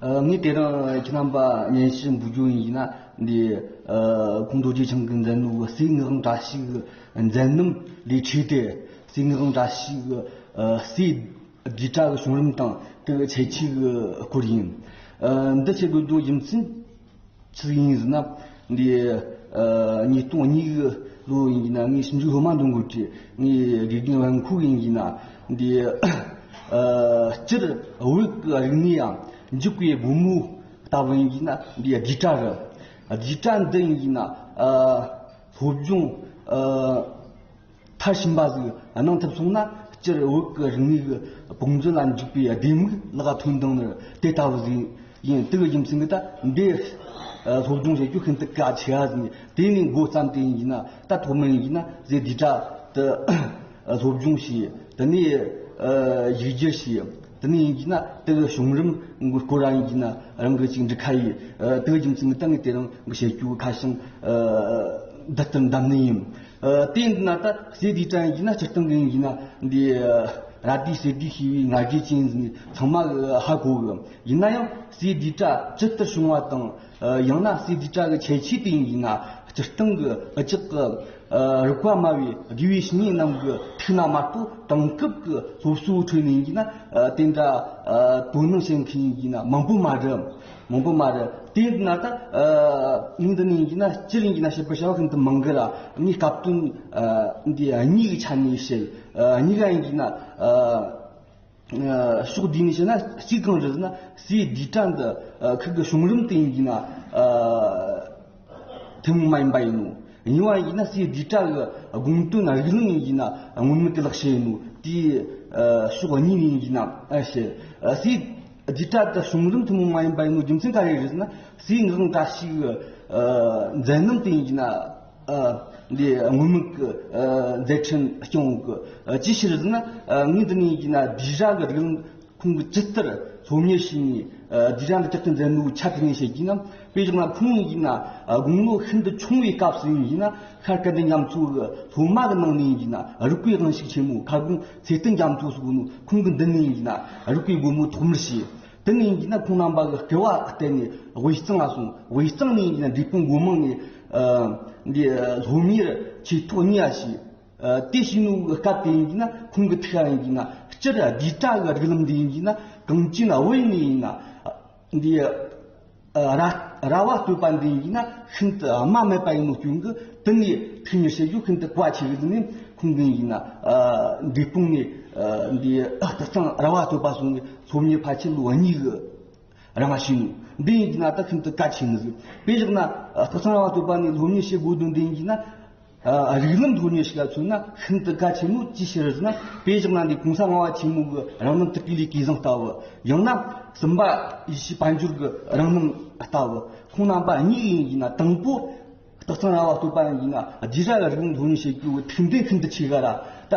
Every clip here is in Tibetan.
ངས་དེ་རིང་ཁྱེད་རྣམ་པ་བརྙན་ཞུ་འབུལ་རྒྱུ་ཡིན་ན་འདི་ཁོང་རྡོ་རྗེ་འཆང་གི་མཛད་ནོར་བུ་རྩིག་ངག་འདྲ་ཞིག་མཛད་རྣམ་ལས་འཁྲུལ་ཏེ་རྩིག་ངག་འདྲ་ཞིག་རྩིས་རྒྱུ་གྲྭ་གི་བྱུང་རིམ་དང་དེ་གི་བྱེད་ཆས་སྐོར་ཡིན། འདི་བྱེད་དགོས་དོན་རྒྱུ་མཚན། ཚིག་དབྱིངས་ཟིན་ན། འདི་ཉིད་སྟོང་ཉིད་བློ་ཡིན་གྱི་ན། ངའི་ཞིབ་འཇུག་སློབ་མ་འདུ་འགོད་ཀྱི། ངའི་དགེ་རྒན་དབང་ཁུག་ཡིན་གྱི་ན། འདི་སྤྱིར་འོད་ཀྱི་རིག་གནས་ཡང། འཇུག་པའི་སྒོ་མོ་ལྟ་བུ་ཡིན་གྱི་ན། འདི་བསྡུས་གྲྭ་རུ། བསྡུས་གྲྭ་འདི་ཡིན་གྱི་ན། སློབ་སྦྱོང། མཐར་ཕྱིན་པ་ཞིག་གནང་ཐུབ་སོང་ན་སྤྱིར་བོད་ཀྱི་རིག་གནས་ཀྱི་དཔུང་མཛོད་ལ་འཇུག་པའི་ལྡེ་མིག་ལག་ཐོའི་མདུང་ནི་དེ་ལྟ་བུ་ཞིག་ཡིན། དེའི་རྒྱུ་མཚན་གྱིས་ད་ལྟའི་སློབ་སྦྱོང་བྱེད་རྒྱུ་ཤིན་ཏུ་གལ་ཆེ་བ་ཞིག་དེ་ནས་འགོ་བརྩམས་ཏེ་ཡིན་ན་ད་ཐོག་མའི་ཡིན་ན་ཟས་དུས་དྲག་ཏུ་སློབ་སྦྱོང་བྱས་དེ་ནས་བཞུགས་རྒྱུ་ཞིག། དེ་ནས་ཡིན་གྱིས་ན་དེ་གི་བྱུང་རིམ་གི་སྐོར་རང་ཡིན་གྱིས་ན་རང་གི་གཅིག་འབྲི་ཁ་ཡིས་དེ་གི་རྒྱུ་མཚན་གི་སྟེང་གི་དེ་རང་གི་བྱེད་སྤྱོད་གི་ཁ་ཞེང་བསྡུ་ལྟར་འདམ་ནི་ཡིན། དེ་ཡིན་གྱིས་ན་ད་གསེས་དེའི་གྲངས་ཡིན་གྱིས་ན་སྤྱིར་བཏང་གི་ཡིན་གྱིས་ན་འདི་ར་དུས་གསེས་དུས་ཞེས་པའི་ང་རྒྱལ་ཅན་ཚང་མ་ཧ་གོ་གི། ཡིན་ན་ཡང་གསེས་དུས་གྲ་ཇི་ལྟར་བྱུང་བ་དང། ཡང་ན་སྲིད་རྩེ་བཀྲ་གི་ཆས་ཆེ་དེ་ཡིན་ཡིན་ན་སྤྱིར་བཏང་གི་བདག་ཅག་གི་རིགས་པ་དམའ་བའི་དགེ་བའི་བཤེས་གཉེན་རྣམས་ཀྱི་ཐུགས་ན་དམར་པོ་དེང་སྐབས་ཀྱི་སློབ་གསོའི་ཁྲོད་ནས་ཡིན་གྱི་ན་དེ་འདྲ་དོ་སྣང་བྱེད་མཁན་ཡིན་གྱི་ན་མང་པོ་མ་རེད། མང་པོ་མ་རེད། དེ་ན་ད་ངས་འདི་ནས་ཡིན་གྱི་ན་སྤྱིར་ཡིན་གྱི་ན་བཤད་པར་བྱ་བ་ཤིན་ཏུ་མང་གི་ལ་ངས་སྐབས་དོན་འདི་གཉིས་ཀྱི་ཆ་ནས་བཤད། གཉིས་ཀ་ཡིན་གྱི་ན། ཕྱོགས་བསྡུས་ནས་བཤད་ན་གཅིག་གང་རེད་ཟེར་ན་སའི་རྡུལ་ཕྲན་འདི་ཁུག་གི་བྱུང་རིམ་སྟེང་ཡིན་ན་ཐུན་མོང་མ་ཡིན་པ་ཡིན་ནོ། གཉིས་པ་ཡིན་ན་སའི་རྡུལ་ཕྲན་གྱི་དགོངས་དོན་རིགས་གླིང་ཡིན་ཡིན་ན་སྔོན་མེད་ཀྱི་ལག་ཤེས་ཡིན་ནོ། དེའི་ཕྱོགས་གཉིས་ཡིན་ཡིན་ནམ་ཞེས། སའི་རྡུལ་ཕྲན་དེ་བྱུང་རིམ་ཐུན་མོང་མ་ཡིན་པ་ཡིན་ནོ་རྒྱུ་མཚན་ག་རེ་རེད་ཟེར་ན་སའི་ངག་འགའ་ཞིག་གི་མཛད་རྣམ་སྟེང་ཡིན་ན། འདིའི་དངོས་མིང་གི་མཛད་འཕྲིན་སྐྱོང་བོ་གི་ཅིའི་ཕྱིར་ཟེར་ན། ངའི་འདི་ནས་ཡིན་ན་སྡིག་ར་གི་རིགས་ལམ་ཁོང་གི་ཇི་ལྟར་སློབ་གཉེར་བྱས་ནས་སྡིག་ར་འདི་ཇི་ལྟར་མཛད་འདུག་ཆ་དེ་ནས་བཤད་ཀྱིས་ན། དཔེ་བཞག་ན་ཁོང་ཡིན་ན་དགུང་ལོ་ཤིན་ཏུ་ཆུང་བའི་སྐབས་སུ་ཡིན་ན་ཤར་སྐལ་ལྡན་རྒྱ་མཚོ་གི་སློབ་མ་གི་ནང་ནས་ཡིན་ན་རིགས་པའི་དབང་ཤུགས་ཆེན་མོ་ཁ་སྒོང་ཚེ་བརྟན་རྒྱ་མཚོ་སོགས་ནས་ཁོང་གི་འདི་ནས་ཡིན་ན་རིགས་པའི་སྒོ་མོ་ཐོག་མར་ཕྱེས། དེ་ནས་ཡིན་གྱི་ན་ཁོང་རྣམ་པ་གི་སྐལ་བ་བརྟེན་ནས་དབུས་གཙང་ལ་སོང་དབུས་གཙང་ནས་ཡིན་གྱི་ན་འབྲས་སྤུངས་སྒོ་མང་ནས་འདི་ལྷོ་མིར་ཆོས་ཐོག་གཉིས་པ་ཞིག་དེ་བྱས་ནུབ་གི་སྐབས་དེ་ཡིན་གྱི་ན་ཁོང་གི་ཐུགས་ཀ་ཡིན་གྱི་ན་སྤྱིར་བསྡུས་གྲྭ་གི་རིགས་ལམ་འདི་ཡིན་གྱི་ན་གངས་ཅན་དབུས་ནས་ཡིན་ན་འདི། ར་བ་སྤྲོད་པ་འདི་ཡིན་ན་ཤིན་ཏུ་སྨྲ་མེད་པ་ཡིན་ནོ་སྐྱོན་གྱི་དུས་ནས་ཐུགས་མི་ཤེས་རྒྱུ་ཤིན་ཏུ་གལ་ཆེ་བས་ནི་ཁུངས་ལྡན་ཡིན། འབྲས་སྤུངས་ནས་འདི་དག་ཀྱང་ར་བ་སྤྲོད་པ་སོང་བའི་ཚོགས་གཉིས་ཕལ་ཆེར་ལོ་གཉིས་གི་རིང་ལ་ཕྱིན་ནོ། འདི་ཡིན་གྱི་ན་དག་ཤིན་ཏུ་གལ་ཆེ་ནི། དཔེ་བཞག་ན། སྟག་ཚང་ར་བ་སྤྲོད་པ་ནི་ལྷོ་མྱི་ཤེས་དགོས་དོན་འདི་ཡིན་གྱི་ན། རིགས་ལམ་ཐོག་ནས་ཞིག་ལ་མཚོན་ན་ཤིན་ཏུ་གལ་ཆེན་མོད་ཅིའི་ཕྱིར་ན་དཔེ་བཞག་ན་འདི་གོང་ས་སྔ་བ་ཆེན་མོ་གི་རང་རྣམ་དྲུག་གི་ལས་ཀའི་གཟེངས་རྟགས་བུ། ཡང་ན་གསུམ་པ་ཡེ་ཤེས་དཔལ་འབྱོར་གྱི་རང་རྣམ་རྟགས་བུ། ཁོང་རྣམ་པ་གཉིས་ཡིན་ཡིན་ན་དང་པོ་སྟག་ཚང་ར་བ་བསྟོད་པ་ཡིན་ན་རྗེས་བྱ་བའི་རིགས་ལམ་ཐོག་ནས་བྱེད་དགོས་པའི་ཐུགས་འདུན་ཤིན་ཏུ་ཆེ་ག་ར་ད།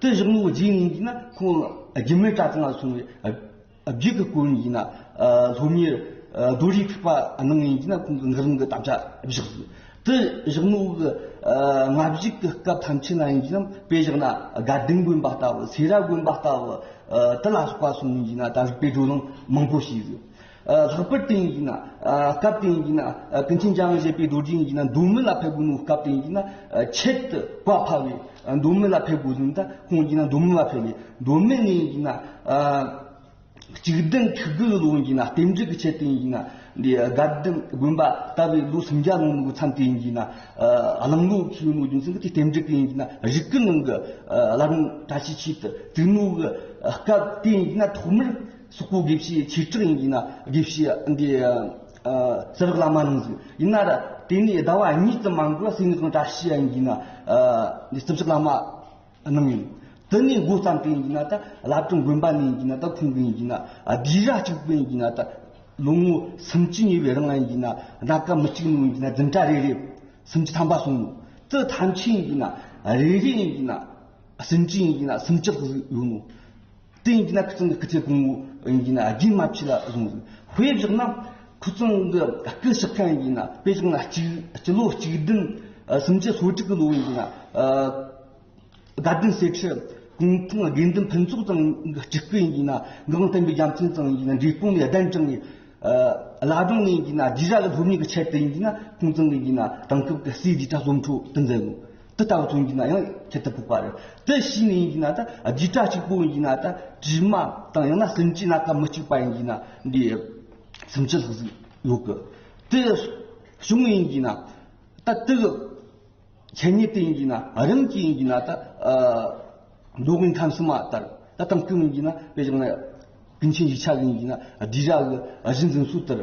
དེ་བཞག་མོ་བརྗེད་ངེས་ཀྱིས་ན་ཁོང་སྒྱུ་མའི་གྲྭ་ཚང་ལ་སོང་བས་བརྒྱུད་གི་སྐོར་ཡིན་ན་སློབ་གཉེར་རྡོ་རིང་ཐུག་པ་གནང་ངེས་ཀྱིས་ན་ཁོང་གི་འགག་རིང་གི་དམ་བཅའ་བཞག་དགོས། དེ་བཞག་མོ་གི་ལྔ་བཞི་གི་སྐབས་ཐམས་ཅད་ན་ཡིན་གྱིས་ན་དཔེ་བཞག་ན་དགའ་ལྡན་དགོན་པ་ལྟ་བུ་སེ་ར་དགོན་པ་ལྟ་བུ་དེ་ལ་སོགས་པ་སོང་ངེས་ཀྱིས་ན་ད་རིག་པའི་བགྲོ་གླེང་མང་པོ་བྱས་ཡོད། ལྷག་པར་དུ་ཡིན་གྱི་ན་སྐབས་དེ་ཡིན་གྱི་ན་ཀུན་མཁྱེན་ཅང་བཞད་པའི་རྡོ་རྗེ་ཡིན་གྱི་ན་འདུག་མི་ལ་ཕེབས་དགོས་ནུ་སྐབས་དེ་ཡིན་གྱི་ན་ཆེད་དུ་བཀའ་ཕབ་བས་འདུག་མི་ལ་ཕེབས་དགོས་ཟིན་ད་ཁོང་གྱིས་ན་འདུག་མི་མ་ཕེབས་ནས་འདུག་མི་ནས་ཡིན་གྱི་ན་གཅིག་བདུན་ཐུགས་དགུ་ལོ་ཡིན་གྱི་ན་རྟེན་འབྲེལ་གྱི་ཆེད་དུ་ཡིན་གྱི་ན་འདི་དགའ་ལྡན་དགོན་པ་ལྟ་བུའི་ལོ་སུམ་བརྒྱ་ལོངས་ནུ་གི་མཚམས་དེ་ཡིན་གྱི་ན་གླིང་ལོ་ཁེའུ་ནུ་རྒྱུ་མཚན་གྱི་དེ་རྟེན་འབྲེལ་དེ་ཡིན་གྱི་ན་རིགས་ཀྱི་ནང་གི་བླ་རུང་བཀྲ་ཤིས་ཆེད་དུ་བཙུགས་ནུ་གི་སྐབས་དེ་ཡིན་གྱི་ན་ཐོག་མར་སོག་པོའི་དགེ་བཤེས་ཆོས་གྲགས་ཡིན་གྱི་ན་དགེ་བཤེས་འདི་ཟེར་བག་ལ་མ་གནང་ཟིག་ཡིན་ན་ར་དེ་ནས་ཟླ་བ་གཉིས་ཙམ་མ་འགོར་བར་སེམས་ཁོང་བཀྲ་ཤིས་ཡིན་གྱི་ན་འདི་བརྩི་བཞག་བླ་མ་གནང་ཡོད་དེ་ནས་མགོ་བརྩམས་ཏེ་ཡིན་གྱི་ན་ད་བླ་བྲང་དགོན་པ་ནས་ཡིན་གྱི་ན་ད་ཁོང་གི་ཡིན་གྱི་ན་རྒྱུད་ར་གཅིག་པུ་ཡིན་གྱི་ན་ད་ལོ་ངོ་སུམ་བཅུ་ཉེ་བའི་རིང་ལ་ཡིན་གྱི་ན་ད་སྐབས་མི་གཅིག་ནོ་ཡིན་གྱི་ན་བདུན་ཕྲག་རེ་རེ་སུམ་བཅུ་ཐམ་པ་སོང་ནོ་དེ་ཐམས་ཆད་ཡིན་གྱི་ན་རེ་རེ་ཡིན་གྱི་ན་སུམ་བཅུ་ཡིན་གྱི་ན་སུམ་བརྒྱག་ཟིག་ཡོད་ནོ། དེ་ཡིན་གྱི་ན་ཁུ་ཙུང་གི་སྐུ་ཚེ་གང་བོ་ཡིན་གྱི་ན་རྒྱུན་མ་ཆད་ལ་བཟུང་དགོས། དཔེ་བཞག་ན། ཁུ་ཙུང་གི་སྐུ་གཤེགས་མཁན་ཡིན་གྱི་ན་དཔེ་བཞག་ན་གཅིག་སྤྱི་ལོ་གཅིག་བདུན་སུམ་བརྒྱ་སོ་དྲུག་གི་ལོ་ཡིན་གྱི་ན། དགའ་ལྡན་སྲས་ཁྲི་གུང་ཐང་དགེ་འདུན་ཕུན་ཚོགས་ཙང་གི་སྤྲུལ་སྐུ་ཡིན་གྱི་ན་འགག་དམ་བསྟན་པའི་རྒྱ་མཚན་ཙང་ཡིན་གྱི་ན་འབྲས་སྤུངས་ནས་གདན་དྲངས་ནས། བླ་བྲང་ནས་ཡིན་གྱི་ན་རྗེས་བཞག་ལ་སློབ་གཉེར་གྱི་ཆེད་དུ་ཡིན་གྱི་ན་ཁུང་ཙང་གི་ཡིན་གྱི་ན་དེང་སྐབས་ཀྱི་སྲས་བརྒྱུད་གྲྭ་བཙུན་ཁྲོད་དུ་མཛད་དགོས། དེ་ལྟ་བུ་ཐོན་གྱི་ན་ཡང་ཁྱད་དུ་འཕགས་པ་རེད། དེ་ཕྱིས་ནས་ཡིན་གྱི་ན་ད་རྒྱུད་གྲྭ་གཅིག་པུ་ཡིན་གྱི་ན་ད་དྲི་མ་དང་ཡང་ན་སེམས་ཅན་སྣ་ཁ་མི་གཅིག་པ་ཡིན་གྱི་ན་འདི་སེམས་ཅན་ལྷག་ཟིག་ཡོད་གི། དེ་བྱུང་ཡིན་གྱི་ན་ད་དེ་གི་ཁྱད་ཉིད་དེ་ཡིན་གྱི་ན་རིམ་གྱིས་ཡིན་གྱི་ན་ད་མདོ་དབུས་མཐའ་མཚམས་མ་ལྟར་ད་གཏང་སྐྱོང་ཡིན་གྱི་ན་དཔེ་བྱུང་ན་ཀུན་མཁྱེན་གྱི་ཕྱག་ཡིན་གྱི་ན་བསྡུས་ར་གི་གཞི་འཛིན་ཚུལ་ལྟར།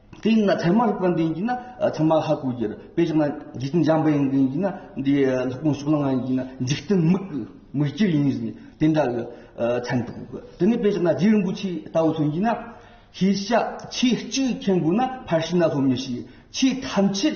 དེ་ཡིན་ན་ཚད་མ་རིག་པ་འདི་ཡིན་ན་ཚད་མ་ཧ་གོ་གྱུར་དཔེ་ཆགས་ན་འཇིག་རྟེན་འཇམ་པ་ཡིན་གྱི་ཡིན་ན་འདི་ལྷག་མ་ཕྱོགས་ལ་ང་ཡིན་ན་འཇིག་རྟེན་མིག་གི་མིག་སྐྱིར་ཡིན་ཟིན་དེ་འདྲ་གི་མཚན་ཏུ་གོ་དེ་ནས་དཔེ་ཆགས་ན་རྗེ་རིན་པོ་ཆེའི་ལྟ་བ་མཚོན་གྱིས་ན་ཤེས་བྱ་ཆེས་གཅིག་མཁྱེན་དགོས་ན་ཕར་ཕྱིན་ན་ལྷོ་མི་ཤེས་ཆེས་ཐམས་ཅད་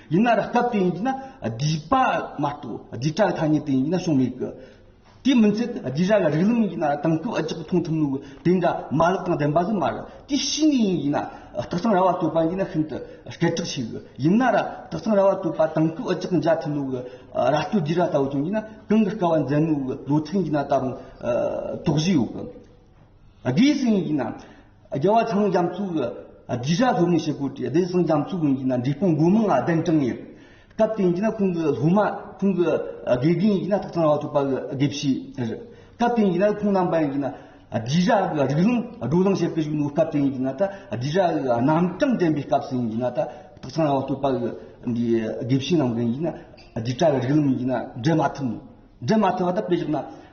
ཡིན་ན་རགས་སྟབས་དེ་ཡིན་གྱི་ན་བསྡུས་པ་མ་གཏོགས་བསྡུས་གྲྭ་གི་ཐ་སྙད་དེ་ཡིན་གྱི་ན་བྱུང་མེད་གི། དེའི་མིན་ཚད་བསྡུས་གྲྭ་གི་རིགས་ལམ་ཡིན་གྱི་ན་དེང་སྐབས་ཨ་ཅག་གིས་མཐོང་ཐུབ་མོད་གི་དེ་འདྲ་མ་ལག་དང་ལྡན་པ་ཟིན་མ་རེད། དེ་ཤི་ནས་ཡིན་གྱི་ན་སྟག་ཚང་ར་བ་བཏོད་པ་ཡིན་གྱི་ན་ཤིན་ཏུ་སྐད་གྲགས་ཆེ་གི། ཡིན་ན་ར་སྟག་ཚང་ར་བ་བཏོད་པ་དེང་སྐབས་ཨ་ཅག་གིས་མཇལ་ཐུབ་མོད་གི་ར་སྟོད་བསྡུས་གྲྭ་ལྟ་བུ་བྱུང་གྱི་ན་གང་གི་སྐལ་བ་མཛད་མོད་གི་ལོ་ཚིགས་ཡིན་གྱི་ན་ད་རུང་དོགས་གཞི་ཡོད་གི། བདེ་སྲུང་ཡིན་ན་རྒྱལ་བ་ཚང་རྒྱ་མཚོ་གི་རྒྱུད་བྱ་སློབ་མའི་བྱེད་སྒོ་དེ་བདེ་སྲུང་རྒྱ་མཚོ་གིས་ཡིན་ན་འབྲས་སྤུངས་སྒོ་མང་ལ་གདན་དྲངས་ཡོད། སྐབས་དེ་ཡིན་ན་ཁོང་གི་སློབ་མ་ཁོང་གི་དགེ་རྒན་ཡིན་ན་ཐོག་ཚང་ར་ཐོག་པ་གི་དགེ་བཤེས་རེད། སྐབས་དེ་ཡིན་ན་ཁོང་རྣམ་པ་ཡིན་ན་རྒྱུད་བྱ་གི་རིགས་ལམ་བགྲོ་གླེང་བྱེད་པའི་གཞུང་ལུགས་སྐབས་དེ་ཡིན་ན་ད་རྒྱུད་བྱ་གི་རྣམ་གྲངས་དྲན་པའི་སྐབས་སུ་ཡིན་ན་ད་ཐོག་ཚང་ར་ཐོག་པ་གི་དགེ་བཤེས་རྣམ་གྲངས་ཡིན་ན་རྒྱུད་བྱ་གི་རིགས་ལམ་ཡིན་ན་འགྲན་མ་ཐུབ་མོད་འགྲན་མ་ཐུབ་པ་ད་དཔེ་བཞག་ན།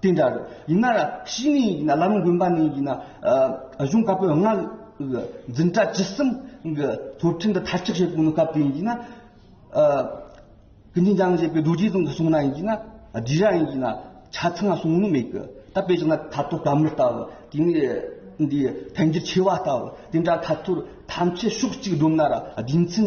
དེ་འདྲ་རེད། ཡིན་ན་ཡང་ཤི་ནས་ཡིན་ན་བླ་རུང་དགོན་པ་ནས་ཡིན་ན་གཞུང་བཀའ་པོད་ལྔ་དབུས་འཛིན་གྲྭ་བཅུ་གསུམ་གྱི་ཐོབ་ཁྲལ་འདི་མཐར་ཆགས་བྱེད་དགོས་ན་སྐབས་དེ་ཡིན་གྱི་ན། ཀུན་མཁྱེན་ལྕམ་བཞད་པའི་རྡོ་རྗེ་ཙོང་ཁ་སོང་ན་ཡིན་གྱི་ན་བསྡུས་ར་ཡིན་གྱི་ན་ཆ་ཚང་སོང་ནི་མེད་གི། ད་དཔེ་བྱུང་ན་ད་ཐོ་བཀའ་མོལ་ལྟ་བུ་དེ་ནས་འདི་ཕན་འགྱུར་ཆེ་བ་ལྟ་བུ་དེ་འདྲ་ཐ་ཐོར་ཐམས་ཅད་ཕྱོགས་གཅིག་བསྒྲུབ་ན་ར་རྒྱུ་མཚན་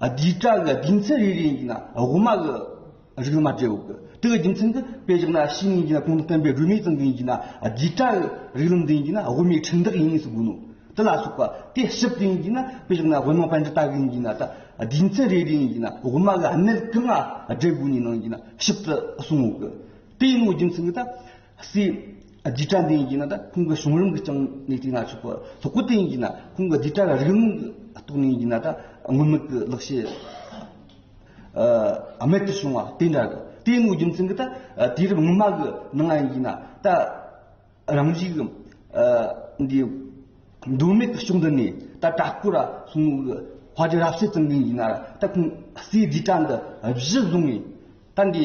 བདུད་དགྲ་གི་སྡིག་མཚན་རེ་རེ་ཡིན་ན་དབུ་མ་གི་རིགས་མ་འབྲེལ་བའོ། དེ་གི་རྒྱུ་མཚན་གྱི་དཔེ་བཞག་ན་ཕྱི་མའི་རྒྱུད་ལ་གོང་དུ་བསྟན་པའི་སྒྲོན་མེའི་ཙམ་གྱི་ཡིན་གྱི་ན་བདུད་དགྲ་གི་རིགས་ལམ་འདི་ཡིན་གྱི་ན་དབུ་མའི་ཁྲིགས་འདག་ཡིན་ངེས་སུ་དགོས་ནོ། དེ་ལ་སོགས་པ་དེ་ཞིབ་ཏུ་ཡིན་གྱི་ན་དཔེ་བཞག་ན་དབུ་མ་པན་ཏྲི་ལྟ་གི་ཡིན་གྱི་ན་སྡིག་མཚན་རེ་རེ་ཡིན་གྱི་ན་དབུ་མ་གི་གནད་གང་ང་འབྲེལ་དགོས་ནས་ནང་གི་ན་ཞིབ་ཏུ་གསུང་ངོ། དེ་ཡིན་ནོ་རྒྱུ་མཚན་གྱི་ད། སྲིད། རྗེས་གྲྭ་འདི་ཡིན་གྱི་ན་ད་ཁོང་གི་གཞུང་རིམ་གྱི་རྐྱང་ནས་བསྐྲུན་ན་ཆོག་གོ། ཐོག་གོ་དེ་ཡིན་གྱི་ན་ཁོང་གི་རྗེས་གྲྭ་ལ་རིག་རླུང་གི་རྟོགས་ནས་ཡིན་གྱི་ན་ད་དངོས་མེད་ཀྱི་ལེགས་བཤད། རྨད་དུ་བྱུང་བ་དེ་འདྲ་གི་དེ་ཡིན་ནོ་རྒྱུ་མཚན་གྱི་ད་དུས་རབས་སྔོན་མ་གི་ནང་ང་ཡིན་གྱི་ན་ད་རང་རྒྱུད་གི་འདི་འགྲོས་མེད་ཀྱི་ཕྱོགས་འདི་ནས་ད་གྲྭ་སྐོར་ར་སོང་ངོ་གི་བྷ་རྗེ་རབ་བྱེད་ཙམ་གྱི་ཡིན་གྱི་ན་ད་ཁོང་སྲིད་རྗེས་གྲྭ་འདི་བཞི་བཟུང་ནས་ད་འདི།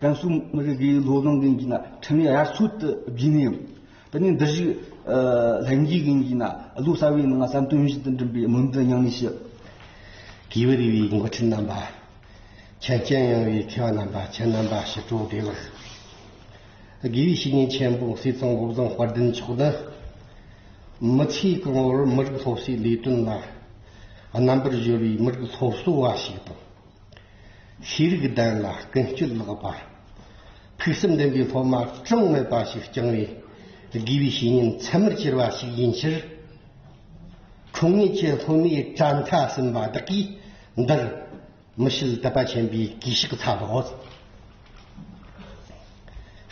ཀན་སུའུ་མི་རིགས་ཀྱི་ལོ་ལོན་མཁན་གྱི་ན་ཕྲན་ནི་དབྱར་ཚུལ་དུ་བསྒྲིགས་ནས་ཡོད། དེ་ནི་འདི་བཞིན་ལྷན་སྐྱེས་མཁན་གྱི་ན་ལོ་གསར་བའི་ནང་བསམ་དོན་བཞིན་དུ་འགྲིམ་པའི་མིང་དུ་མྱངས་ནས་ཤི། གྱི་བུ་རི་བའི་མགོ་ཁྲིད་རྣམ་པ། ཁྱད་རྐྱེན་ཡངས་བའི་མཁས་པ་རྣམ་པ་ཁྱེད་རྣམ་པ་ཞི་ཁྲོ་བདེ་ལགས། དགེ་བའི་བཤེས་གཉེན་ཆེན་པོ་སྲིད་གཙང་བོད་བཟང་དཔལ་ལྡན་མཆོག་ནི། མི་ཚེའི་གོང་བུར་མི་རིགས་སློབ་གསོའི་ལས་དོན་ལ་རྣམ་པར་གཞོལ་བའི་མི་རིགས་སློབ་གསོ་བ་ཞིག་དང། ཤེས་རིག་ལྡན་ལ་ཀུན་སྤྱོད་ལེགས་པ། ཕུགས་བསམ་ལྡན་པའི་སློབ་མ་གྲངས་མེད་པ་ཞིག་བསྐྱངས་བས། དགེ་བའི་བཤེས་གཉེན་ཚད་མར་གྱུར་པ་ཞིག་ཡིན་ཕྱིར། འཁྲུངས་ངེས་ཀྱི་སློབ་མའི་གྲྭ་མཐའ་ཟིན་པ་བདག་གིས་འདིར་མི་ཤེས་དད་པ་ཆེན་པོས་གུས་ཕྱག་འཚལ་ལོ།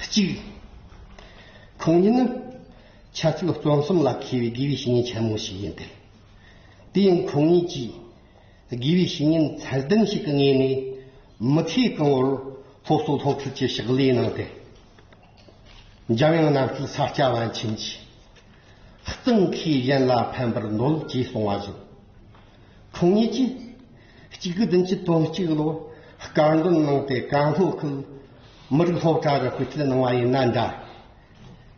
གཅིག། ཁོང་ཉིད་ནི་འཆད་རྩོད་རྩོམ་གསུམ་ལ་མཁས་པའི་དགེ་བའི་བཤེས་གཉེན་ཆེན་མོ་ཞིག་ཡིན་ཏེ། དེ་ཡང་ཁོང་ཉིད་ཀྱིས། དགེ་བའི་བཤེས་གཉེན་ཚད་ལྡན་ཞིག་གི་ངོས་ནས་མི་ཚེ་གང་བོར་སློབ་གསོ་སློབ་ཁྲིད་ཀྱི་ཕྱག་ལས་གནང་སྟེ། འཇམ་དབྱངས་གནམ་སྐྱིད་ས་སྐྱ་བན་ཆེན་གྱིས་གཙང་མཁས་གཞན་ལ་ཕན་པར་འདོད་ཅེས་གསུང་བ་བཞིན། འཁྲུངས་ཉིན་གྱི་གཅིག་གི་བདུན་གྱི་དོན་གཅིག་ལོ་བཀའ་འདོན་གནང་སྟེ་བཀའ་སློབ་ཁུལ་མི་རིགས་སློབ་གྲྭར་སྐུལ་ཁྲིད་གནང་བ་ཡིན་ན་འདྲ།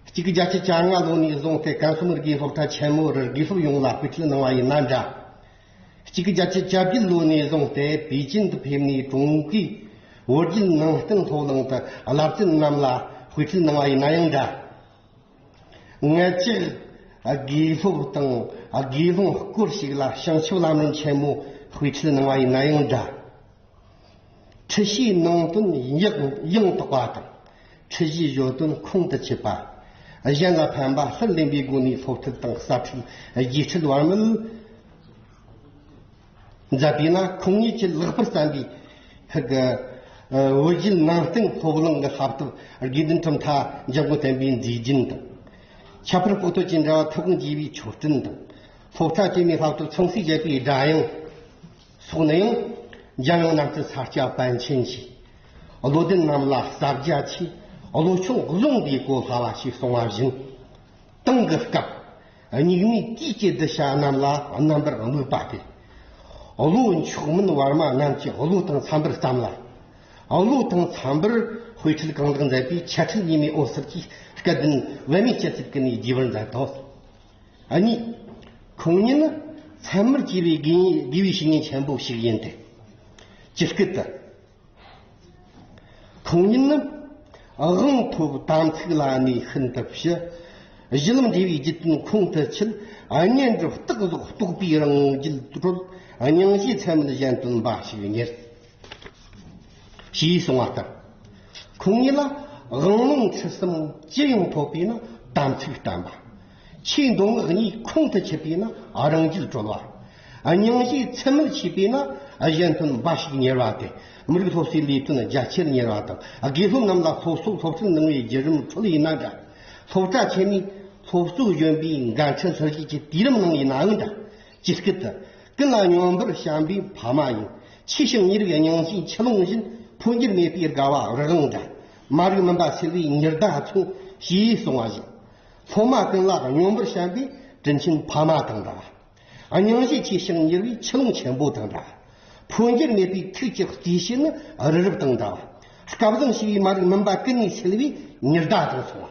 གཅིག་གི་རྒྱལ་སྤྱི་གྱ་ལྔ་ལོ་ནས་བཟུང་སྟེ་ཀན་སུའུ་མི་རིགས་སློབ་གྲྭ་ཆེན་མོ་རུ་དགེ་སློབ་ཡོངས་ལ་སྐུལ་ཁྲིད་གནང་བ་ཡིན་ན་འདྲ། གཅིག་གི་རྒྱལ་སྤྱི་བཅོ་བརྒྱད་ལོ་ནས་བཟུང་སྟེ་པེ་ཅིན་དུ་ཕེབས་ནས་ཀྲུང་གོའི་བོད་བརྒྱུད་ནང་བསྟན་སློབ་གླིང་དུ་བསླབ་སྤྱི་རྣམས་ལ་དཔེ་ཁྲིད་གནང་བ་ཡིན་ན་ཡང་འདྲ། སྔ་ཕྱིར་དགེ་སློབ་དང་དགེ་སློང་སྐོར་ཞིག་ལ་བྱང་ཆུབ་ལམ་རིམ་ཆེན་མོ་དཔེ་ཁྲིད་གནང་བ་ཡིན་ན་ཡང་འདྲ། ཁྲིད་གཞིའི་ནང་དོན་ཡང་དག་པ་དང། ཁྲིད་གཞིའི་བརྗོད་དོན་ཁུངས་དུ་ཆུད་པ། གཞན་ལ་ཕན་པ་ལྷུར་ལེན་པའི་སྒོ་ནས་སློབ་ཁྲིད་དང་གསར་ཁྲིད་རྒྱས་ཁྲིད་བར་མི་མཛད་པས་ན་ཁོང་ཉིད་ཀྱིས་ལེགས་པར་བརྩམས་པའི་བོད་བརྒྱུད་ནང་བསྟན་སློབ་གླིང་གི་ལྷག་ཐབས་དགེ་འདུན་གྲུབ་མཐའ་འཇམ་མགོན་བསྟན་པའི་མཛེས་རྒྱན་དང། ཁྱད་པར་སྤོ་ཐོ་བཅས་འདྲ་བ་ཐུགས་དགོངས་བརྒྱད་པའི་མཆོད་སྤྲིན་དང། སློབ་གྲྭ་དཀྱུས་མའི་ལྷག་ཐབས་མཚུངས་བསྲེས་བྱས་པའི་སྒྲ་དབྱངས། སོགས་ནས། རྒྱལ་ཡོངས་ནང་གི་ས་སྐྱ་པཎ་ཆེན་གྱིས། བློ་ལྡན་རྣམས་ལ་བསྟར་རྒྱ་ཆེ། བློ་ཆུང་རླུང་གིས་གོ་སླ་བ་ཞིག་སོང་བ་བཞིན། ཏང་གི་སྐབས་སྙིགས་མའི་དུས་ཀྱི་བསྡུ་བྱ་རྣམས་ལ་རྣམ་པར་དམིགས་པ་སྟེ། བློ་མཆོག་མིན་བར་མ་རྣམས་ཀྱི་བློ་དང་འཚམ་པར་བརྩམས་ལ། བློ་དང་འཚམ་པར་དཔེ་ཁྲིད་གང་དག་མཛད་པའི་ཆ་འཕྲིན་ཉི་མའི་འོད་ཟེར་གྱིས་སྐལ་ལྡན་དབལ་མོའི་སྤྱི་གཙུག་གི་ནས་རྒྱས་པར་མཛད་དོ། གཉིས། ཁུངས་སྙན་ནི་མཚན་མར་བྱས་པའི་དགེ་བའི་བཤེས་གཉེན་ཆེན་པོ་ཞིག་ཡིན་ཏེ། ཇི་སྐད་དུ། ཁུངས་སྙན་ནི་དབང་ཐོབ་དམ་ཚིག་བླ་མའི་ཤིན་ཏུ་ཞི། གཞི་ལམ་འབྲས་བུའི་རྒྱུད་དོན་ཁུངས་དུ་ཆུད། བསྙེན་སྒྲུབ་རྟག་རྫོགས་རྟོགས་པའི་རང་རྒྱུད་གྲོལ། སྙིང་རྗེའི་ཚད་མེད་གཞན་དོན་འབའ་ཞིག་གཉེར། ཞེས་གསུངས་བ་ལྟར་ཁོང་ཉིད་ལ་དབང་ལུང་ཆོས་གསུམ་སྤྱི་ཡོངས་ཐོབ་པས་ན་དམ་ཚིག་བཀྲམ་པ། ཕྱིའི་མདོ་སྔགས་གཉིས་ཁོང་དུ་ཆུད་པས་ན་རང་རྒྱུད་གྲོལ་བ། སྙིང་རྗེའི་མཚན་མོར་ཆུད་པས་ན་གཞན་དོན་འབའ་ཞིག་གཉེར་བ་སྟེ་མི་རིགས་སློབ་གསོའི་ལས་དོན་རྒྱ་ཆེར་གཉེར་བ་དང་དགེ་སློབ་རྣམས་ལ་སློབ་གསོ་སློབ་སྟོན་གནང་བའི་བརྒྱུད་རིམ་ཁྲོད་ལ་ཡིན་ན་འདྲ། སློབ་གྲྭ་ཆེན་མོའི་སློབ་གཙོའི་གཞོན་པའི་འགན་འཁྲི་འཁུར་བཞེས་ཀྱི་དུས་རིམ་ནང་ཡིན་ནའང་འདྲ། ཇི་སྐད་དུ། ཀུན་ལ་སྙོམས་པར་བྱམས་པའི་ཕ་མ་ཡིན། ཕྱི་ཞིང་ཉི་རིགས་སྙིང་རྗེའི་ཆུ་ཀླུང་བཞིན། འཕོ་འགྱུར་མེད་པའི་དགའ་བ་རི་རང་འདྲ། མ་རིག་མུན་པ་སེལ་བའི་ཉི་ཟླ་མཚུངས། ཞེས་གསུངས་བ་བཞིན། སློབ་མ་ཀུན་ལ་སྙོམས་པར་བྱམས་པའི་དྲིན་ཆེན་ཕ་མ་དང་འདྲ། སྙིང་རྗེ་ཕྱི་ཞིང་ཉི་རིགས་ཆུ་ཀླུང་ཆེན་པོ་དང་འདྲ། འཕོ་འགྱུར་མེད་པའི་ཐུགས་ཀྱི་རྩིས་བཞིན་ནི་རི་རབ་དང་འདྲ། སྐལ་བཟང་ཞི་བའི་མ་རིག་མུན་པ་ཀུན་ནས་སེལ་བའི་ཉི་ཟླ་དང་མཚུངས།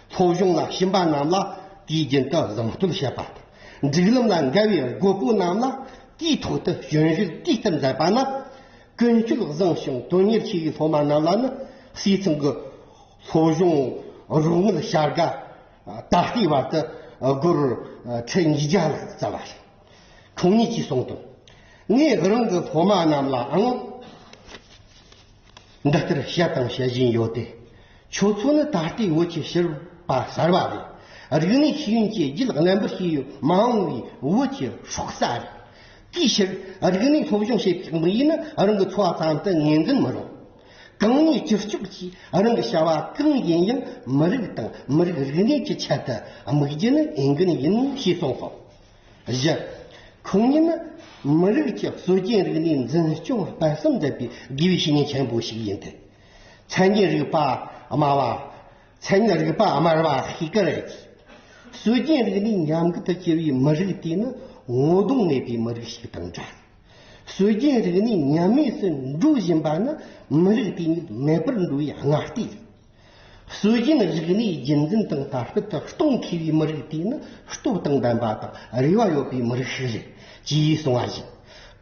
ཚོགས་གཞུང་ལ་ཞུམ་པ་རྣམས་ལ་དུས་རྒྱུན་དུ་གཟིམ་བསྟོད་བྱེད་པ་དང། སྒྲིག་ལམ་ལ་འགལ་བའི་དགོས་པོ་རྣམས་ལ་དུས་ཐོག་ཏུ་གཞོན་བཞུགས་དཀྲིས་ལྟར་མཛད་པ་ནི། ཀུན་སྤྱོད་བཟང་ཞིང་དོན་གཉེར་ཆེ་བའི་སློབ་མ་རྣམས་ལ་ནི་སྲིད་ཚོང་གི་ཚོགས་གཞུང་རོགས་དངུལ་བྱ་དགའ་ད་ལྟའི་བར་དུ་སྒོར་ཁྲི་ཉིས་བརྒྱ་ལྷག་བསྩལ་བ་རེད། ཁོང་ཉིད་ཀྱིས་གསུངས་དོན། ངས་རང་གི་སློབ་མ་རྣམས་ལའང། འདི་ལྟར་བཤད་དང་བཤད་བཞིན་ཡོད་དེ། ཆོས་ཚོགས་ནི་ད་ལྟའི་བོད་ཀྱི་ཕྱིར་པ་གསར་པ་རེད། རིག་གནས་ཤེས་ཡོན་བཅས་རྒྱུད་རྣམ་པར་ཤེས་ཡོན་མ་འོངས་པའི་བོད་ཀྱི་ཧྲོག་རྩ་རེད། དེའི་ཕྱིར་རིག་གནས་སློབ་སྦྱོང་བྱེད་པའི་དམིགས་ཡུལ་ནི་རང་གི་འཚོ་བ་ཙམ་དུ་ངེས་འཛིན་མི་རུང། གང་ཉིད་ཅི་ལྕོགས་ཀྱིས་རང་གི་བྱ་བ་གང་ཡིན་ཡང་མི་རིགས་དང་མི་རིགས་རིག་གནས་ཀྱི་ཆེད་དུ་དམིགས་རྒྱུ་ནི་འོས་འགན་ཡིན་ཞེས་གསུངས་སོང། བཞི། ཁུངས་སྙན་ནི་མི་རིགས་ཀྱི་སྲོལ་རྒྱུན་རིག་གནས་འཛིན་སྐྱོང་གཏིང་ཟབ་མཛད་པའི་དགེ་བའི་བཤེས་གཉེན་ཆེན་པོ་ཞིག་ཡིན་ཏེ། མཚན་ཉིད་རིག་པ་སྨྲ་བ། མཚན་ཉིད་རིག་པ་དམར་བ་ཞིག་གི་རེད། སྲོལ་རྒྱུན་རིག་གནས་ཉམས་རྒུད་དུ་གྱུར་བའི་མི་རིགས་དེ་ནི་ངོ་གདོང་མེད་པའི་མི་རིགས་ཤིག་དང་འདྲ། སྲོལ་རྒྱུན་རིག་གནས་ཉམས་དམས་སུ་འགྲོ་བཞིན་པ་ནི་མི་རིགས་དེ་ཉིད་མེད་པར་འགྲོ་བའི་སྔ་ལྟས་རེད། སྲོལ་རྒྱུན་རིག་གནས་རྒྱུན་འཛིན་དང་དར་སྤེལ་དུ་གཏོང་མཁས་པའི་མི་རིགས་དེ་ནི་སྟོབས་དང་ལྡན་པ་དང་རེ་བ་ཡོད་པའི་མི་རིགས་ཤིག་རེད་ཅེས་གསུངས་བ་བཞིན།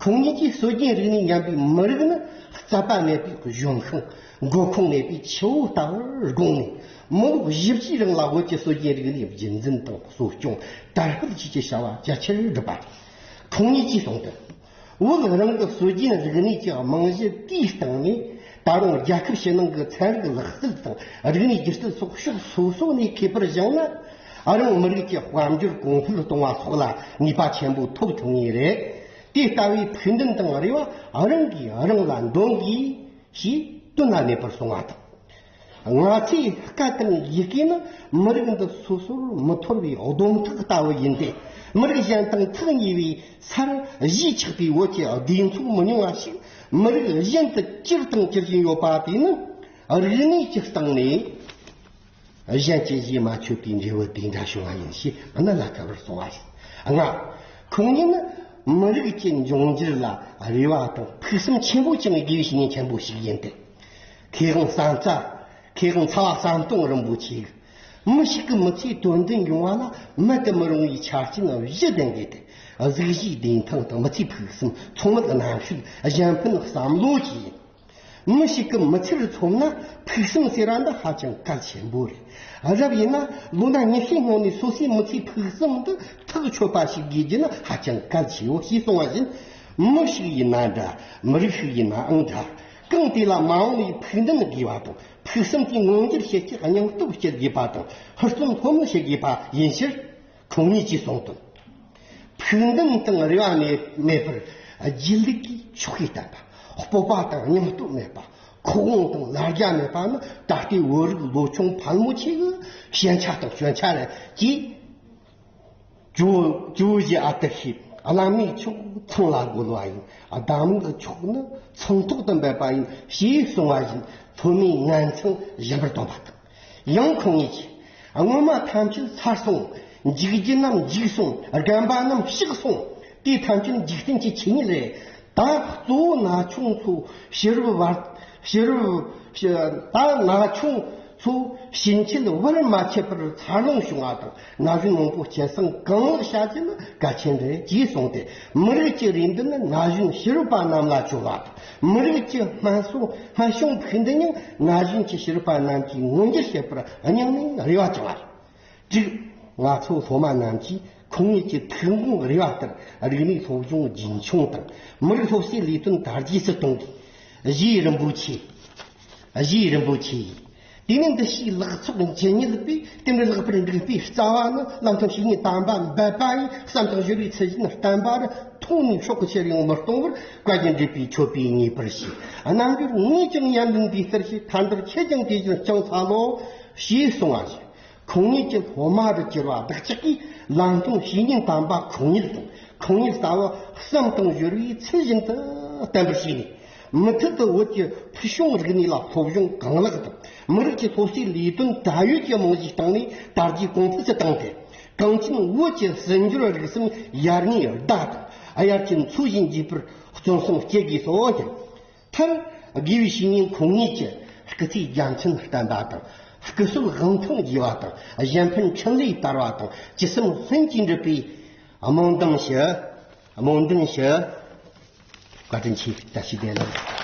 ཁོང་ཉིད་ཀྱིས་སྲོལ་རྒྱུན་རིག་གནས་ཉམས་པའི་མི་རིགས་ནི་རྩ་བ་མེད་པའི་གཞུང་ཤོང་འགོ་ཁུངས་མེད་པའི་ཆུ་བོ་ལྟ་བུར་དགོངས་ནས་མི་ལོ་བཞི་བཅུའི་རིང་ལ་བོད་ཀྱི་སྲོལ་རྒྱུན་རིག་གནས་རྒྱུན་འཛིན་དང་གསོ་སྐྱོང་དར་སྤེལ་བྱེད་ཀྱི་བྱ་བ་རྒྱ་ཆེར་བསྒྲུབས་པ་རེད། ཁོང་ཉིད་ཀྱིས་གསུངས་དོན། བོད་རང་གི་སྲོལ་རྒྱུན་རིག་གནས་ཀྱི་རྨང་གཞི་བརྟན་བཏང་ནས་ད་རུང་རྒྱལ་ཁབ་ཕྱི་ནང་གི་ཚན་རིག་ལག་རྩལ་དང་རིག་གནས་སྒྱུ་རྩལ་སོགས་ཕྱོགས་སོ་སོ་ནས་མཁས་པར་བཞེངས་ན་རང་མི་རིགས་ཀྱི་དཔལ་འབྱོར་གོང་འཕེལ་གཏོང་བ་སོགས་ལ་ནུས་པ་ཆེན་པོ་ཐོབ་ཐུབ་ངེས་རེད། དེ་ལྟ་བུའི་ཕུགས་འདུན་དང་རེ་བ་རང་གིས་རང་ལ་འདོན་དགོས། ཞེས་བསྟོད་ན་མེད་པར་སོང་བ་དང། ང་ཚོས་བཀའ་བསྟན་ཡི་གེ་ནི་མི་རིགས་འདི་སོ་སོར་མི་འཐོར་བའི་སྡོམ་ཐག་ལྟ་བུ་ཡིན་ཏེ། མི་རིགས་གཞན་དང་ཐག་ཉེ་བའི་སར་གཞིས་ཆགས་པའི་བོད་ཀྱི་སྡེ་ཚོགས་མི་ཉུང་བ་ཞིག་མི་རིགས་གཞན་དུ་གྱུར་དང་གྱུར་བཞིན་ཡོད་པ་དེ་ནི་རིག་གནས་ཀྱི་སྟེང་ནས་གཞན་གྱི་གཞས་མ་ཆོད་པའི་འབྲས་བུ་དེ་འདྲ་བྱུང་བ་ཡིན་ཞེས་གནད་ལ་འཁེལ་བར་སོང་བ་ཞིག་མངའ། ཁོང་ཉིད་ནི་མི་རིགས་ཀྱི་འབྱུང་འགྱུར་ལ་རེ་བ་དང་ཕུགས་བསམ་ཆེན་པོ་བཅངས་དགོས་པའི་བཤེས་གཉེན་ཆེན་པོ་ཞིག་ཡིན་ཏེ། ཁེ་དབང་གསང་རྩ། ཁེ་དབང་ཚ་བ་གསང་སྟོང་རིན་པོ་ཆེ། མི་ཞིག་གི་མི་ཚེའི་དོན་མཐུན་ཡོང་བ་ལ་མེད་དུ་མི་རུང་བའི་ཆ་རྐྱེན་བཞི་ལྡན་དགོས་ཏེ། གཟུགས་གཞིའི་བདེ་ཐང་དང་མི་ཚེའི་ཕུགས་བསམ་ཚོང་ལུགས་གནམ་ཤུགས་གཞན་ཕན་བསམ་བློ་བཅས་ཡིན། མི་ཞིག་གི་མི་ཚེར་མཚོན་ན་ཕུགས་བསམ་ཟེར་བ་འདི་ཧ་ཅང་གལ་ཆེན་པོ་རེད། རབ་ཡིན་ན་ལོ་ན་ཉི་ཤུའི་སྔོན་ནས་སོ་སོའི་མི་ཚེའི་ཕུགས་བསམ་འདི་ཐག་ཆོད་པ་ཞིག་དགོས་རྒྱུ་ནི་ཧ་ཅང་གལ་ཆེའོ་ཞེས་གསུངས་བ་བཞིན། མི་ཞིག་ཡིན་ན་འདྲ། མི་རིགས་ཤིག་ཡིན་ནའང་འདྲ། ཁུངས་དེ་ལ་མ་འོངས་པའི་ཕུགས་འདུན་དགོས་པ་དང་ཕུགས་བསམ་གྱི་མངོན་འགྱུར་བྱེད་ཆེད་སྙིང་སྟོབས་སྐྱེད་དགོས་པ་དང་ཧུར་བརྩོན་ལྷོད་མེད་བྱེད་དགོས་པ་ཡིན་ཕྱིར། ཁོང་ཉིད་ཀྱིས་གསུངས་དོན། ཕུགས་འདུན་དང་རེ་བ་མེད་པར་སྒྱིད་ལུག་གིས་ཆོ་གས་བསྟན་པ། སྤོབས་པ་དང་སྙིང་སྟོབས་མེད་པ། ཁོག་དབང་དང་ལ་རྒྱ་མེད་པ་ནི་ད་ལྟའི་བོད་རིགས་ལོ་ཆུང་ཕལ་མོ་ཆེའི་ཞན་ཆ་དང་སྐྱོན་ཆ་རེད་ཅེས། ཇོ་བཞི་ཨ་ཏི་ཤས་བླ་མའི་ཕྱོགས་མཚང་ལ་རྒོལ་བ་ཡིན། གདམས་ངག་གི་ཕྱོགས་ནི་མཚང་ཐོག་ཏུ་འབེབས་པ་ཡིན་ཞེས་གསུངས་བ་བཞིན་ཐོན་མིའི་ངན་མཚང་གཞན་པར་སྟོན་པ་དང། ཡང་ཁོང་ངེས་ཀྱི། སྔོན་མ་ཐམས་ཅད་ཚར་སོང། འཇིག་རྒྱུ་རྣམས་འཇིག་སོང། རྒན་པ་རྣམས་ཤི་སོང། དེ་ཐམས་ཅད་འཇིག་རྟེན་གྱི་ཆོས་ཉིད་རེད། དག། གཙོ་བོ་ན་ཆུང་ཚོ་བྱི་རུ་བར། བྱི་རུ། དག། ན་ཆུང་ཚོ་བྱི་མཆེད་བར་མ་ཆད་པར་འཚར་ལོངས་བྱུང་བ་དང་ན་གཞོན་མང་པོ་སྐྱེད་སྲིང་གང་ལེགས་བྱ་རྒྱུ་ནི་གལ་ཆེན་རེད་ཅེས་གསུངས་ཏེ་མི་རིགས་ཀྱི་རེ་འདུན་ནི་ན་གཞོན་བྱི་རུ་པ་རྣམས་ལ་བཅོལ་བ་དང་མི་རིགས་ཀྱི་སྨན་གཞུང་ཕུགས་འདུན་ཡང་ན་གཞོན་གྱི་བྱི་རུ་པ་རྣམས་ཀྱིས་མངོན་འགྱུར་བྱེད་པར་སྙིང་ནས་རེ་བ་བཅངས་བ་རེད། དྲུག། ང་ཚོ་སློབ་མ་རྣམས་ཀྱིས་ཁུལ་ངོས་ཀྱི་ཐུན་མོང་རེ་བ་ལྟར་རིག་གནས་སློབ་སྦྱོང་རྒྱུན་འཁྱོངས་དང་མི་རིགས་སློབ་གསོའི་ལས་དོན་དར་རྒྱས་སུ་གཏོང་དགོས། བཞི། རིན་པོ་ཆེ། བཞི། རིན་པོ་ཆེ། དེ་ནས་འདི་ཕྱིའི་ལག་ཚོགས་ཇི་སྙེད་པས་དེ་འདྲའི་ལྷག་པར་འགྲིག་པའི་རྩ་བ་ནི་བླ་མཚོ་ཞིག་ནས་དམ་པ་འབད་པ་ཡི་བསམ་དང་གཞོལ་བའི་ཚུལ་བཞིན་བསྟན་པ་རུ་མཐོང་ནས་ཕྱོགས་གཅིག་ཡོང་མི་གཏོང་བར་བཀའ་བརྒྱུད་འདྲེས་པའི་མཆོད་པས་ངེས་པར་བྱས། རྣམ་འགྱུར་ངེས་ཅིང་ཡ་འདུན་པའི་གཏེར་ཆེན་ཐར་འདོད་ཁྱེད་ཀྱང་དེ་བཞིན་བསྐྱངས་ཚར་ལོ། ཞེས་གསུང་བ་བཞིན་ཁུངས་སྣེ་གཅིག་ཧོ་མ་དུ་གྱུར་པ་བདག་ཅག་གིས་ལམ་སྟོན་བྱས་ཉིན་དམ་པ་གང་ཉིད་དང་གང་ཉིད་ལྟ་བུ་བསམ་དང་གཞོལ་བའི་ཚུལ་བཞིན་དུ་བསྟན་པར་བྱས་ནས། མུ་མཐུད་དུ་བོད་ཀྱི་ཕུལ་བྱུང་རིག་གནས་ལ་སློབ་སྦྱོང་གང་ལེགས་དང་མི་རིགས་ཀྱི་སློབ་གསོའི་ལས་དོན་བགྲང་ཡོད་ཀྱི་རྨང་གཞིའི་སྟེང་ནས་དར་རྒྱས་གོང་འཕེལ་དུ་བཏང་སྟེ། གངས་ཅན་བོད་ཀྱི་སྲིད་འབྱོར་རིག་གསུམ་ཡར་ངོའི་བདག་དང་དབྱར་གྱི་མཚོ་བཞིན་འགྱིངས་པར་བརྩོན་སེམས་སྐྱེད་དགོས་སོ་སྙམ། མཐར། དགེ་བའི་བཤེས་གཉེན་འཁོན་ངེས་ཀྱི་སྐུ་ཚེའི་རྒྱ་མཚན་བསྟན་པ་དང། སྐུ་གསོལ་དབང་ཐང་རྒྱས་པ་དང་གཞན་ཕན་ཕྲིན་ལས་དར་བ་དང་སྤྱི་སེམས་ལྷན་སྐྱེས་འགྲུབ་པའི་སྨོན་འདུན་ཞུ། སྨོན་འདུན་ཞུ། བཀའ་དྲིན་ཆེ་བཀྲ་ཤིས་བདེ་ལེགས།